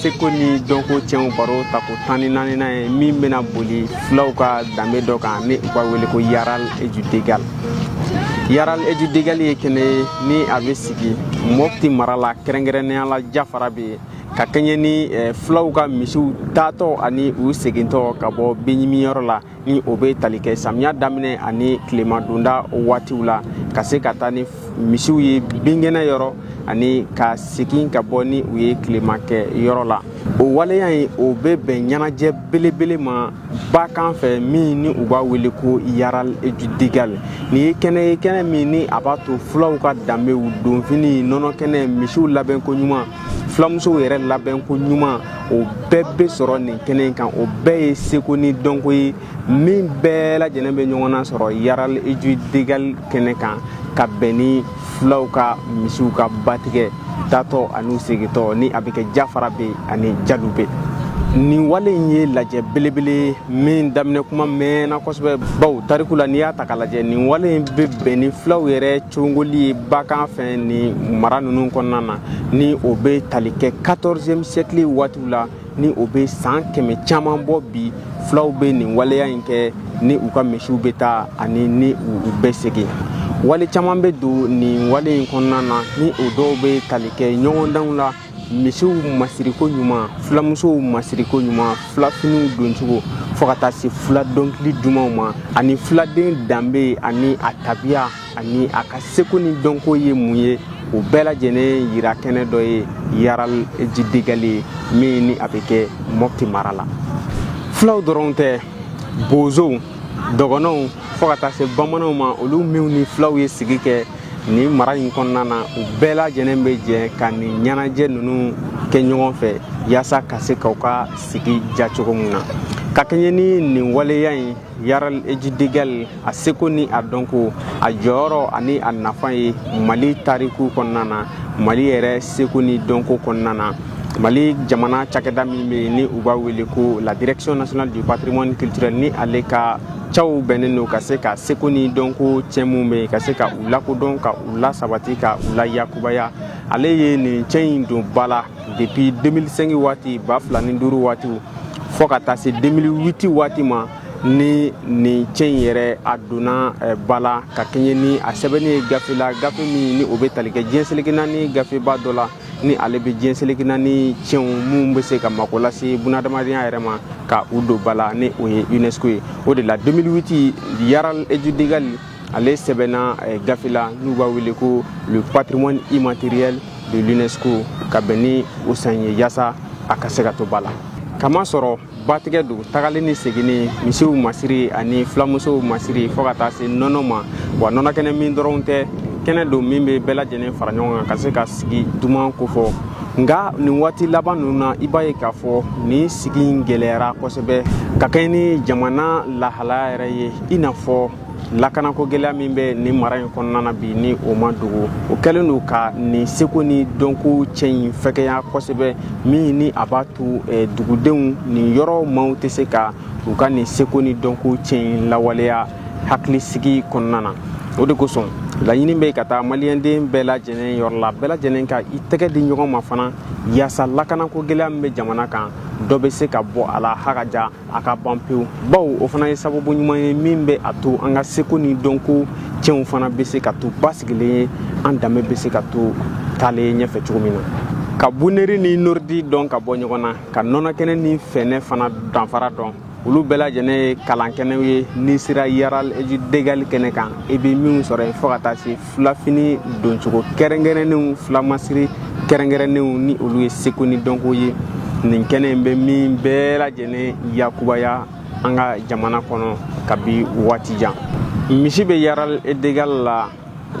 seko ni dɔnko tiɲɛw baro tako tan ni naaninan ye min bɛna boli fulaw ka danbe dɔ kan ni u b'a wele ko yaral et du degal yaral et du degal ye kɛnɛ ye ni a bɛ sigi mɔpti mara la kɛrɛnkɛrɛnnenya la jafarabɛ yen ka kɛɲɛ ni eh, fulaw ka misiw taatɔ ani u segintɔ ka bɔ binɲimiyɔrɔ la ni o bɛ tali kɛ samiya daminɛ ani tilema donda waatiw la ka se ka taa ni misiw ye binkɛnɛ yɔrɔ ani ka segin ka bɔ ni u ye tilema kɛ yɔrɔ la o waleya in o bɛ bɛn ɲɛnajɛ belebele ma bakan fɛ min ni u b'a wele ko yaral degal nin ye kɛnɛ ye kɛnɛ min ni a b'a to fulaw ka danbew donfini nɔnɔ kɛnɛ misiw labɛnko ɲuman fulamusow yɛrɛ labɛn ko ɲuman o bɛɛ bɛ sɔrɔ nin kɛnɛ in kan o bɛɛ ye seko ni dɔnko ye min bɛɛ lajɛlen bɛ ɲɔgɔn na sɔrɔ yaral et du degal kɛnɛ kan ka bɛn ni fulaw ka misiw ka batigɛ taatɔ ani u segintɔ ni a bɛ kɛ jafarabɛ ani jalubɛ nin wale in ye lajɛ belebele min daminɛ kuma mɛnna kosɛbɛ bawo tariku la n'i y'a ta ka lajɛ nin wale in bɛ bɛn ni fulaw yɛrɛ cogoli ye bakan fɛ nin mara ninnu kɔnɔna na ni o bɛ tali kɛ 14e siècle waatiw la ni o bɛ san kɛmɛ caman bɔ bi fulaw bɛ nin waleya in kɛ ni u ka misiw bɛ taa ani ni u bɛ segin wale caman bɛ don nin wale in kɔnɔna na ni o dɔw bɛ tali kɛ ɲɔgɔndanw la misiw masiriko ɲuman fulamusow masiriko ɲuman fulafiniw doncogo fo ka taa se fula dɔnkili dumanw ma ani fuladen danbe ani a tabiya ani a ka seko ni dɔnko ye mun ye o bɛɛ lajɛlen yira kɛnɛ dɔ ye yaral et du degal ye min ni a bɛ kɛ mɔpti mara la fulaw dɔrɔn tɛ bozow dɔgɔnɔw fo ka taa se bamananw ma olu minw ni fulaw ye sigi kɛ nin mara in kɔnɔna na u bɛɛ lajɛlen bɛ jɛ ka nin ɲɛnajɛ ninnu kɛ ɲɔgɔn fɛ yaasa ka se k'u ka sigi diya cogo min na ka kɛɲɛ ni nin waleya in yaral et du degal a seko ni a dɔnko a jɔyɔrɔ ani a nafa ye mali tariku kɔnɔna na mali yɛrɛ seko ni dɔnko kɔnɔna na mali jamana cakɛda min bɛ yen ni u b'a wele ko la direction nationale du patrimoine culturel ni ale ka caw bɛnnen don ka se ka seko ni dɔnko cɛn minnu bɛ yen ka se ka u lakodɔn ka u lasabati ka u layakubaya ale ye nin cɛn in don ba la depuis 2005 waati ba fila ni duuru waatiw fo ka taa se 2008 waati ma ni nin cɛn in yɛrɛ a donna eh, ba la ka kɛɲɛ ni a sɛbɛnni ye gafe la gafe min ni o bɛ tali kɛ diɲɛ seleke naani gafeba dɔ la ni ale bɛ diɲɛ seleke naani cɛnw minnu bɛ se ka mako lase bunadamadenya yɛrɛ ma ka u don ba la ni o ye unesco ye o de la 2008 yaral et du degal ale sɛbɛnna eh, gafe la n'u b'a wele ko le patrimoine immatériel de l'unesco ka bɛn ni o san ye yaasa a ka se ka to ba la k'a masɔrɔ batigɛ don tagali ni seginni misiw masiri ani filamusow masiri fɔɔ ka taa se nɔnɔ ma wa nɔnɔkɛnɛ min dɔrɔn tɛ kɛnɛ don min bɛ bɛɛ lajɛlen fara ɲɔgɔn kan ka se ka sigi duman kofɔ nka nin waati laban ninnu na i b'a ye k'a fɔ nin sigi in gɛlɛyara kosɛbɛ ka kɛɲɛ ni jamana lahalaya yɛrɛ ye i n'a fɔ lakanako gɛlɛya min bɛ nin mara in kɔnɔna na bi ni o ma dogo o kɛlen don ka nin seko ni dɔnko ciyɛn in fɛgɛya kosɛbɛ min ni a b'a to eh, dugudenw nin yɔrɔ maaw tɛ se ka u ka nin seko ni dɔnko ciyɛn in lawaleya hakilisigi kɔnɔna na o de kosɔn laɲini bɛ ka taa maliyɛnden bɛɛ lajɛlen yɔrɔ la bɛɛ lajɛlen ka i tɛgɛ di ɲɔgɔn ma fana yaasa lakanako gɛlɛya min bɛ jamana kan dɔ bɛ se ka bɔ a la hakaja a ka ban pewu bawo o fana ye sababu ɲuman ye min bɛ a to an ka seko ni dɔnko ciyɛnw fana bɛ se ka to basigilen ye an danbe bɛ se ka to taalen ɲɛfɛ cogo min na ka buneri ni noridi dɔn ka bɔ ɲɔgɔn na ka nɔnɔkɛnɛ ni fɛnɛ fana danfara dɔn olu bɛɛ lajɛlen ye kalankɛnɛw ye n'i sera yaral degali kɛnɛ kan i bɛ minnu sɔrɔ yen fɔɔ ka taa se filafini doncogo kɛrɛnkɛrɛnnenw filamasiri kɛrɛnkɛrɛnnenw ni olu ye seko ni dɔnko ye nin kɛnɛ in bɛ min bɛɛ lajɛlen yakubaya an ka jamana kɔnɔ kabi waati jan misi bɛ yaral e degal la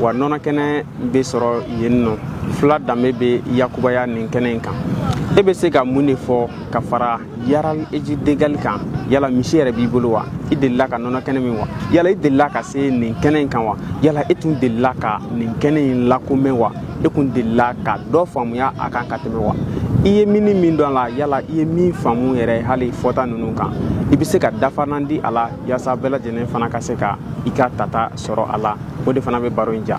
wa nɔnɔ kɛnɛ bɛ sɔrɔ yen nɔ fula danbe bɛ yakubaya nin kɛnɛ in kan e bɛ se ka mun de fɔ ka fara yaral eji degali kan yala misi yɛrɛ b'i bolo wa i delila ka nɔnɔ kɛnɛ min wa yala i delila ka se nin kɛnɛ in kan wa yala e tun delila ka nin kɛnɛ in lakomɛn wa e kun delila ka dɔ faamuya a kan ka tɛmɛ wa i ye min ni min dɔn a la yala i ye min faamu yɛrɛ hali fɔta ninnu kan i bɛ se ka dafanan di a la yaasa bɛɛ lajɛlen fana ka se ka i ka tata sɔrɔ a la o de fana bɛ baro in ja